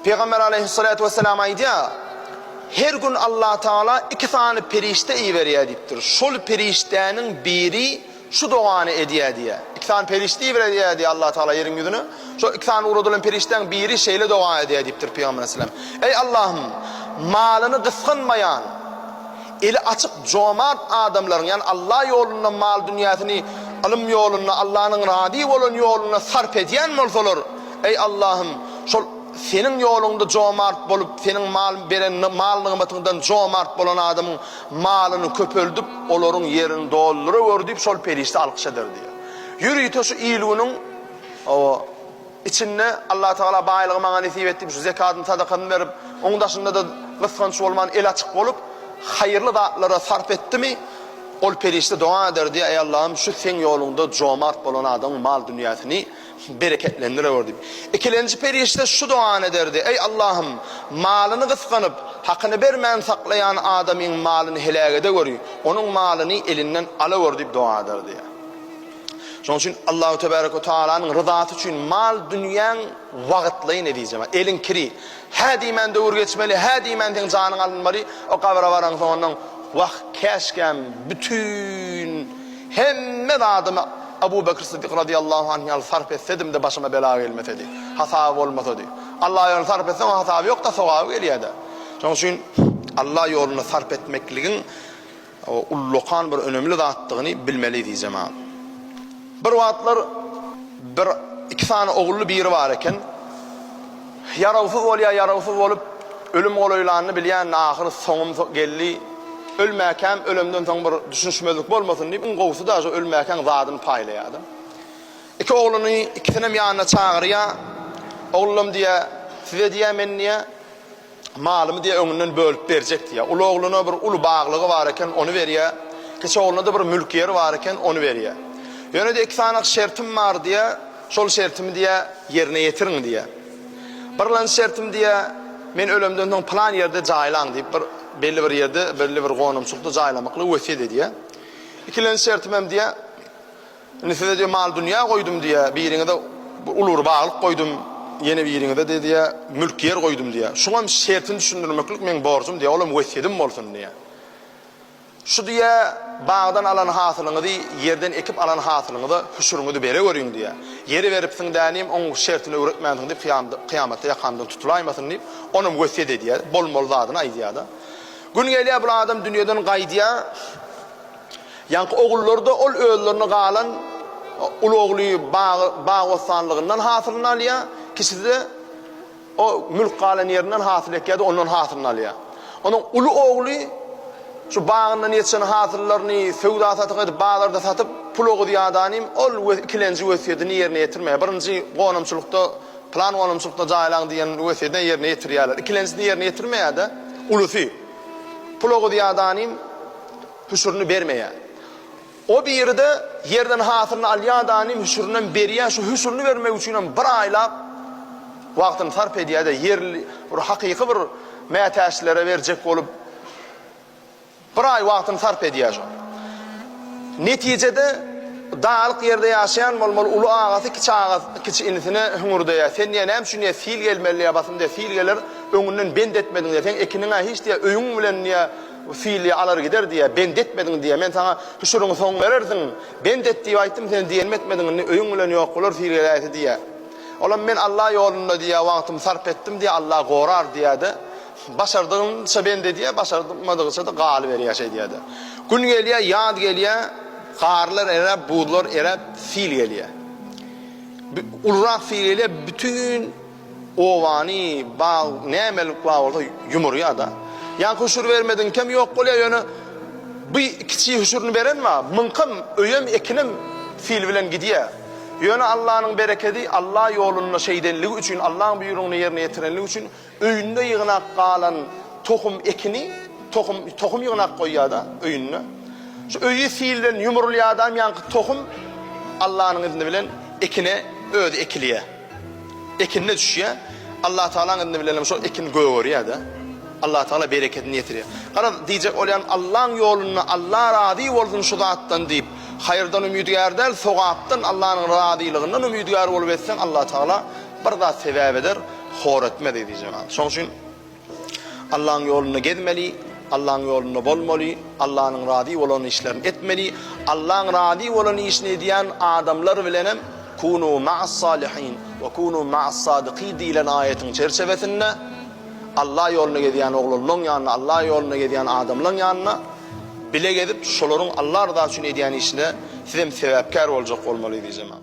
Pygamber aleýhissalatu wessalam aýdýar, Her gün Allatagala iki sany perişde iberýär diýipdir. Şol perişdäniň biri şu dogany edýär diýýär. Iki sany perişde iberedýär diýýär Allatagala ýeriň ýüzüne. Şol iki sany ugradylan perişdäň biri şeýle doga edýär diýipdir Pygamber aleyhissalam. Eý Allahym, malyny gysganmaýan, eli açyk, jomart adamlaryň, ýagny Allah ýolunda mal-dünýäsini ylym ýolunda, Allahnyň razy bolan ýolunda sarp edýän bolsalar, Eý, Allahym, şol Seniň ýoluňda jomart bolup, Seniň mal beren mal-nygmatyňdan jomart bolan adamyň malyny köpeldip, olaryň ýerini dolduragör diýip, şol perişde alkyş eder diýýär. Ýörite şu il-günüň, hawa, içinde Allatagala baýlygy maňa nesip et diýip, şu zekadymy, sadakadymy berip, onuň daşynda-da gysganç bolman, eli açyk bolup, haýyrly zatlara sarp etdimi, ol perişde doga eder diýýär, Eý, Allahym, şu Seň ýoluňda jomart bolan adamyň mal-dünýäsini bereketlendirewer diýip, ikilenji perişde şu dogany ederdi, Eý, Allahym, malyny gysganyp, hakyny bermän saklaýan adamyň malyny heläk edeweri, onuň malyny elinden alaweri diýip doga ederdi. Şonuň üçin Allahu tebärek we tagalanyň ryzasy üçin mal-dünýäň wagtlaýyn, ezizjemar, eliň kiri, Hä diýmän döwür geçmeli, hä diýmän seň janyň alynmaly, o gabra baraňsoň ondan Wah, käşgäm bütin hemme zadymy Abu Bekr Sydyk razyýallahu anh ýaly sarp etsedim-de başyma bela gelmesedi, hasaby bolmasady. Alla ýoluna sarp etseň oň hasaby ýok-da, sogaby gelýär-dä. Şonuň üçin Alla ýolunda sarp etmekligiň ullakan bir önemli zatdygyny bilmeli diýjemam. Bir wagtlar bir iki sany ogully biri bar eken. Ýarawsyz bolýar, ýarawsyz bolup ölüm golaýlanyny bilýän, ahyry soňum geldi. Ölmäkäm, ölemden soň bir düşünişmezlik bolmasyn diýip, iň gowusy daže ölmäkäň zadyny paýlaýar da. Iki ogluny ikisinem ýanyna çagyrýar. Oglum diýýär, size diýýär, men diýýär, Malymy diýýär, öňünden bölüp berjek diýýär. Uly ogluna bir uly baglygy bar eken, ony berýär. Kiçi ogluna-da bir mülk ýeri bar eken, ony berýär. Ýöne diýýär, iki sany şertim bar diýýär, şol şertimi diýýär, ýerine ýetiriň diýýär. Birlenji şertim diýýär, men ölemden soň pylan ýerde jaýlaň diýip, bir belli bir ýerde, belli bir gonamçylykda jaýlamaklygy wesýet edýär. Ikilenji şertimem diýýär, Indi size diýýär, mal-dünýä goýdum diýýär, biriňize bir uly bir baglyk goýdum, ýene biriňize diýýär, mülk-ýer goýdum diýýär. Şuňam şertini düşündirmeklik meň borjum diýýär, olam wesýedim bolsun diýýär. Şu diýýär, bagdan alan hasylyňyzy, ýerden ekip alan hasylyňyza hüşüriňizi beregöriň diýýär. Ýere beripsiň dänim, oň şertini öwretmänsiň diýip, kyýamatda ýakamdan tutulaymasyn diýip, onam wesýet edýär, bolmaly zadyny aýdýar-da. Gün gelýär, bul adam dünýeden gaýdýar. Ýaňky ogullary-da ol özlerine galan uly ogly bag-bossanlygyndan hasylyny alýar, kiçisi-de o mülk galan ýerinden hasyl ekýär-de, ondan hasylyny alýar. Onuň uly ogly şu bagyndan ýetişen hasyllaryny söwda-satyk edip, bazarda satyp, pul ogudyadanym ol we ikilenji wesýetini ýerine ýetirmeýär. Birinji gonamçylykda, pylan gonamçylykda jaýlaň diýen wesýetini ýerine ýetirýärler. Ikilenjisini ýerine ýetirmeýär-de, ulusy. Pul ogudyadanym. hüşürini bermeýär. O biride ýerden hasylyny alýar danym hüşürinem berýär şu hüşürini bermek üçinem bir aýlap wagtyny sarp edýärde ýerli bir hakyky bir mätäçlere berjek bolup bir aý wagtyny sarp edýär şo netijede dagylyk ýerde ýaşaýan bolmaly uly agasy kiçi agasy kiçi inisine hüňürdeýär sen diýä näme üçin diýä sil gelmeli diýä basym diýä sil geler öňünden bent etmediň diýä sen ekiniňä hiç diýä öýüň bilen diýä Filli alar gider diýýär, bent etmediň diýýär. Men saňa, Hüşüriňi soň berersiň, bent et diýip aýtdym, sen diýenimi etmediň, indi öýüň bilen ýok bolar, fil geläýse diýýär. Olam men Alla ýolunda diýýär, wagtymy sarp etdim diýýär, Alla gorar diýýär-de, başardygyňça bent edýär, başarmadygyça-da galyberýär şeýdýär-de. Gün gelýär, ýaz gelýär, garlar eräp, buzlar eräp, fil gelýär. Ulurak fil gelýär, bütin. Obany, bag, nämelik bar bolsa ýumurýar-da. Ýa hüşür bermediňkem ýok bolýar, ýöne bu kiçi hüşürini beren bar, muňkam öýem, ekinem sil bilen gidýär. Ýöne Allanyň berekedi, Alla ýolunda şeýdenligi üçin, Allaň buýrugyny ýerine ýetirenligi üçin öýünde ýygnak galan tohum, ekini, tohum, tohum ýygnap goýýar-da öýünde. Şu öýi sil bilen ýumurylýar-da, ýaňky tohum Allanyň izni bilen ekine özi ekilýär. Ekine düşýär. Allatagalaň yzny bilenem şol ekin gögerýär-de. Allatagala berekedini ýetirýär. Garaz, diýjek bolýan, Allaň ýolunda, Alla razy bolsun şu zatdan diýip, haýyrdan umydygär däl, sogapdan, Allanyň razylygyndan umydygär bolup etseň, Allatagala bir zat sebäp eder, hor etmez diýjek. Şoň üçin Allaň ýolunda gezmeli, Allaň ýolunda bolmaly, Allanyň razy bolan işlerini etmeli, Allaň razy bolan işini edýän adamlar bilenem Kunu ma'as-salihin we kunu ma'as-sadikin diýlen aýatyň çerçewesinde Alla ýolunda gezýän oglanlaň ýanynda, Alla ýolunda gezýän adamlaň ýanynda bile gezip, şolaryň Alla ryzasy üçin edýän işine sizem sebäpkär boljak bolmaly diýjemem.